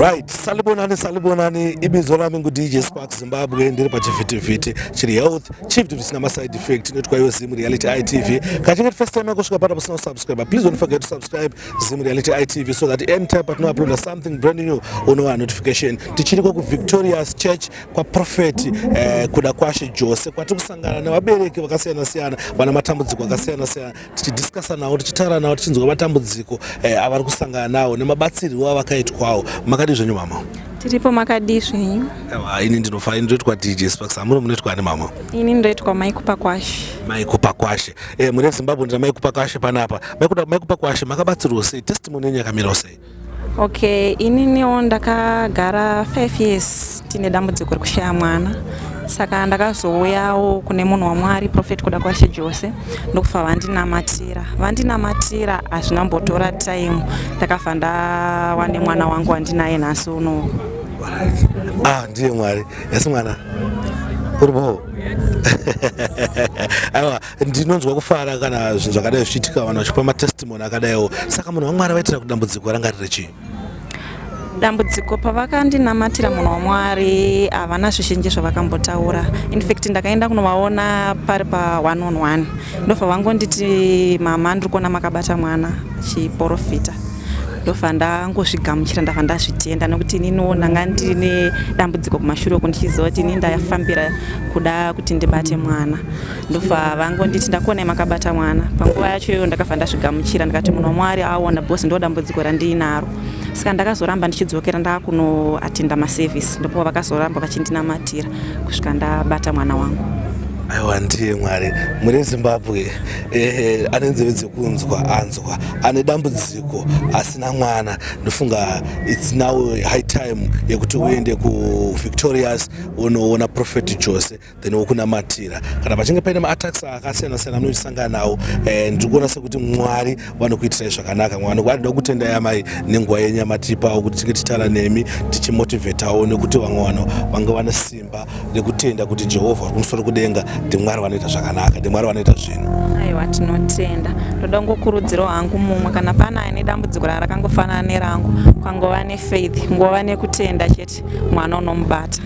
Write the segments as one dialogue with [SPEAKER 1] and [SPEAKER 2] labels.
[SPEAKER 1] right salibonani salibonani ibizo rami ngudj spark zimbabwe ndiri pachivhitivhiti chiri health chief tivisina maside effect inoitwa yo zim reality itv kachinge tifirst time yakusvika pana pasina kusubscribe please don't forget to subscribe zim reality itv so that anytime patinouploada something brand new unowa notification tichiriko kuvictorious church kwaprofeti eh, kuda kwashe jose kwatiri kusangana nevabereki vakasiyana siyana vana matambudziko akasiyana siyana tichidiscasa navo tichitaura navo tichinzwa matambudziko eh, avari kusangana nawo nemabatsirwo avakaitwawo makadii zvenyu mama tiripo makadii
[SPEAKER 2] zvenyu ini ndinofa
[SPEAKER 1] ndinoitwa dj sparks amuri munoitwa ani mama ini ndoitwa maikupa
[SPEAKER 2] kwashe maikupa kwashe
[SPEAKER 1] eh, mune zimbabwe ndina maikupa kwashe panapa maikupa kwashe makabatsirwo sei testimony yenyu yakamirawo sei Okay,
[SPEAKER 2] ininiwo ndakagara 5 years tine dambudziko rekushaya mwana saka ndakazouyawo kune munhu wamwari profet kuda kwashe jose ndokufa vandinamatira vandinamatira hazvina mbotora time ndakafa ndawane mwana wangu wandinaye nhasi unowo
[SPEAKER 1] ah, ndiye mwari yasi mwana uri boo aiwa ndinonzwa kufara kana zvinhu zvakadai zvichiitika vanhu vachipa matestimony akadaiwo saka munhu wamwari vaitira kuti dambudziko ranga riri chii
[SPEAKER 2] dambudziko pavakandinamatira munhu wamwari havana zvizhinji zvavakambotaura infact ndakaenda kunovaona pari pa one on one ndofa vangonditi mama ndiri kuona makabata mwana chiporofita ndofa ndangozvigamuchira ndava ndazvitenda nokuti ininiwo ndanga ndine dambudziko kumashure uku ndichiziva kuti ini ndafambira kuda kuti ndibate mwana ndofa vangu nditi ndakuonai makabata mwana panguva yacho iyoyo ndakabva ndazvigamuchira ndikati munhu wamwari aona bhosi ndo dambudziko randiinaro saka ndakazoramba ndichidzokera ndakunoatinda maservice ndopo vakazoramba vachindinamatira kusvika ndabata mwana wangu aiwa ndiye
[SPEAKER 1] mwari mune zimbabwe ehe ane nzeve dzekunzwa anzwa ane dambudziko asina mwana ndofunga its now high time yekuti uende kuvictorious unoona prophet jose then wokunamatira kana pachinge paine maatax akasiyana siyana anoisangana nawo eh, ndiri kuona sekuti mwari vanokuitirai zvakanaka mwari vanoda kutendai amai nenguva yenyu yamatipawo kuti tinge titara nemi tichimotivhetawo nekuti vamwe vanhu vanga vane simba rekutenda kuti jehovha vari kumusoro kudenga ndimwari vanoita zvakanaka ndimwari vanoita zvinhu aiwa tinotenda
[SPEAKER 2] ndoda kungokurudzirawo hangu mumwe kana pana ane dambudziko rarakangofanana nerangu kwangova nefaith ngova nekutenda chete best mwana unomubata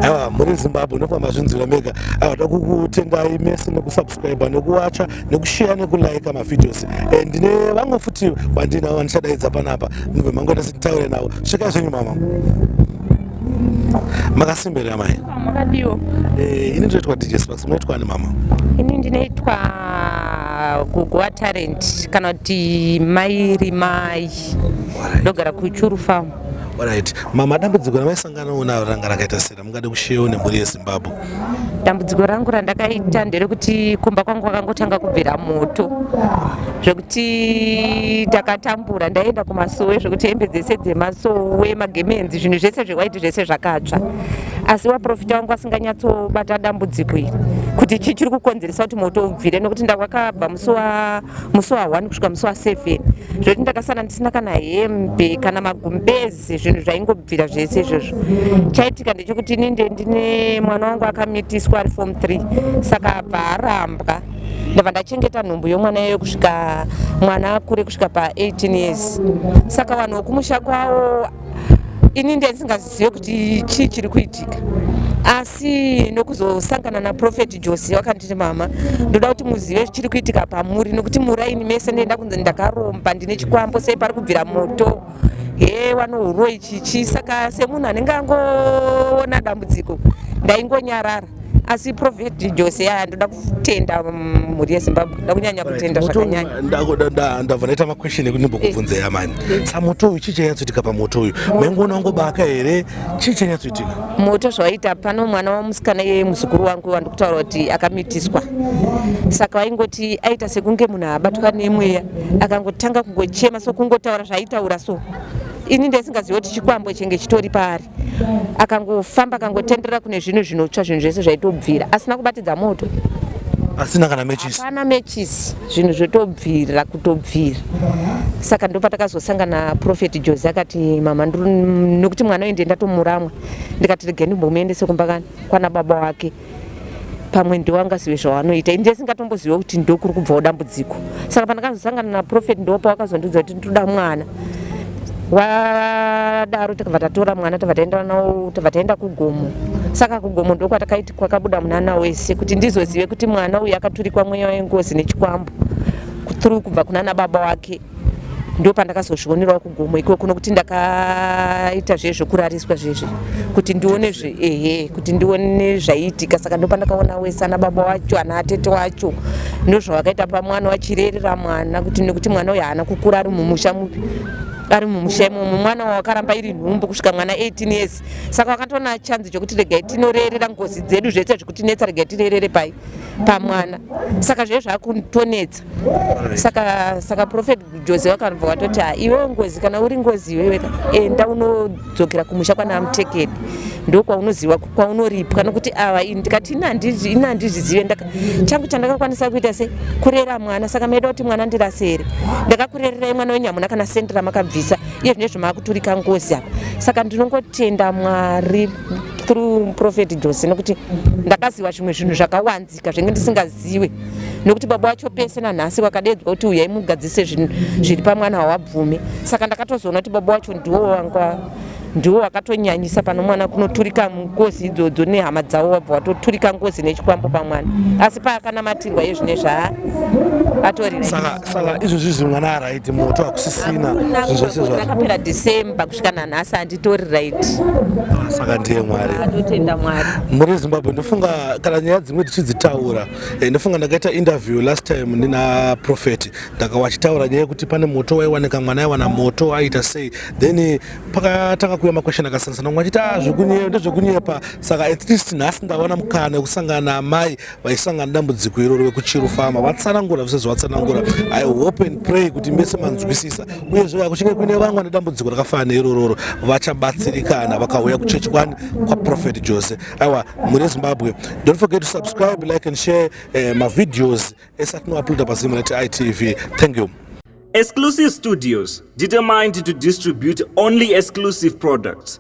[SPEAKER 1] aiwa muri zimbabwe unofamba zvinzira mega aiwa takukutendai mese nekusubscribe nekuwacha nekusheya nekulaika mavideos eh, ndine vamwe futi vandinavo vandichadaidza panapa mubve mangoita sititaure navo svika zvenyu mama makasimberera mai makadiwo
[SPEAKER 3] eh, ini ndinoitwa
[SPEAKER 1] dj sparks munoitwa ani mama ini ndinoitwa
[SPEAKER 3] guguwa talent kana kuti mai rimai ndogara kuchuru farm Alright. Mama,
[SPEAKER 1] dambudziko ramaisangana nawo ranga rakaita sei ramungade kushewo nemhuri yeZimbabwe? Dambudziko
[SPEAKER 3] rangu randakaita nderekuti kumba kwangu kwakangotanga kubvira moto zvekuti takatambura ndaienda kumasowe zvekuti hembe dzese dzemasowe magemenzi zvinhu zvese zvewaiti zvese zvakatsva asi waprofita wangu asinganyatsobata dambudziko iri kuti chii chiri kukonzeresa kuti moto ubvire nokuti ndawakabva musi wa musi wa 1 kusvika musi wa 7 zvekuti ndakasara ndisina kana hembe kana magumbezi zvinhu zvaingobvira zvese izvozvo chaitika ndechekuti ini nde ndine mwana wangu akamitiswa ari form 3 saka abva arambwa ndava ndachengeta nhumbu yomwana iyoyo kusvika mwana akure kusvika pa 18 years saka vanhu vokumusha kwavo ini ndandisingazvizive kuti chii chiri kuitika asi nokuzosangana naprofeti jose wakanditi mama ndoda kuti muzive zvichiri kuitika pamuri nokuti muraini mese ndoenda kunzi ndakaromba ndine chikwambo sei pari kubvira moto he wanouroi chichi saka semunhu anenge angoona dambudziko ndaingonyarara asi prophet jose yaa ndoda kutenda mhuri yezimbabwe ndoda kunyanya kutenda zvakanyanyandabva
[SPEAKER 1] ndaita maquestion ekuti ndimbokubvunza ya mani samoto uyu chii chanyatsoitika pamoto uyu maingoona wangobaka here chii chanyatsoitika moto zvawaita
[SPEAKER 3] pano mwana wamusikana iye muzukuru wangu wandikutaura kuti akamitiswa saka vaingoti aita sekunge munhu abatwa nemweya akangotanga kungochema so kungotaura zvaaitaura so ini ndaisingazivi kuti chikwambo chenge chitori paari akangofamba akangotenderera kune zvinhu zvinotsva zvinhu zvese zvaitobvira asina kubatidza moto asina
[SPEAKER 1] kana matches hapana matches
[SPEAKER 3] zvinhu zvotobvira kutobvira saka ndopatakazosangana prophet jose akati mama nekuti mwana uyu ndiye ndatomuramwa ndikati regeni mbomuendese kumba kani kwana baba wake pamwe ndiwo angazive zvawanoita ini ndisingatombozive kuti ndokuri kubvawo dambudziko saka pandakazosangana naprofet ndiwo pawakazondiudza kuti nditoda mwana wadaro takabva tatora mwana tabva taenda nawo tabva taenda kugomo saka kugomo ndokwatakaiti kwakabuda munana wese kuti ndizozive kuti mwana uyu akaturikwa mweya wengozi nechikwambo through kubva kunana baba wake ndopandakazozvionerawo kugomo ikoko nokuti ndakaita zve zvekurariswa zvezvi kuti ndione zve ehe kuti ndione zvaiitika saka ndopandakaona wese ana baba wacho ana atete wacho ndozvavakaita pamwana wachirerera mwana kuti nekuti mwana uyo haana kukura ari mumusha mupi ari mumusha imomo mwana wawakaramba iri nhumbu kusvika mwana 18 years saka wakatoona chanzi chokuti regai tinorerera ngozi dzedu zvese zvikutinetsa regai tirerere pai pamwana saka zvezvakutonetsa saka saka prophet jose wakanobva watoti ha iwewe ngozi kana uri ngozi iwewe enda unodzokera kumusha kwana amutekedi ndokwaunoziva kwaunoripwa nokuti ava ini ndikati ini handizvizive changu chandakakwanisa kuita se kurera mwana saka maida kuti mwana ndirasere ndakakurererai mwana wenyu hamuna kana sendi ramakabvisa iye zvine zvamaakuturika ngozi apa saka ndinongotenda mwari through prophet jose nokuti ndakaziva zvimwe zvinhu zvakawanzi kugadzika zvenge ndisingaziwe nokuti baba wacho pese nanhasi wakadeedzwa kuti uyai mugadzise zvinhu zviri pamwana hawabvume saka ndakatozoona kuti baba wacho ndiwo wanga ndiwo wakatonyanyisa pano mwana kunoturika ngozi idzodzo nehama dzavo wabva watoturika ngozi nechikwambo pamwana asi paakanamatirwa yezvine zvaa atori saka
[SPEAKER 1] izvozvi zvi mwana araiti moto akusisina zvese zvakapera
[SPEAKER 3] december kusvika nanhasi handitori right ah, saka
[SPEAKER 1] ndiye mwari atotenda
[SPEAKER 3] mwari muri zimbabwe ndofunga
[SPEAKER 1] kana nyaya dzimwe tichidzitaura eh, ndofunga ndakaita interview last time ndina prophet ndaka wachitaura nyaya yekuti pane moto waiwanika mwana aiwana moto aiita sei then eh, pakatanga kuuya makwesheni akasiyanasana mwe achiti a ah, zvekunyepa ndezvekunyepa saka at least nhasi ndaona mukana wekusangana amai vaisangana dambudziko iroro vekuchiru fama vatsanangura zvese zvavatsanangura i hope and pray kuti mese manzwisisa uyezve vakuchinge kuine vangwa nedambudziko rakafana neirororo vachabatsirikana vakauya kuchechi kwani kwaprofet jose aiwa mune zimbabwe don't forget to subscribe like and share eh, mavideos esatinouploada pazimunet itv thank you Exclusive
[SPEAKER 4] Studios, determined to distribute only exclusive products.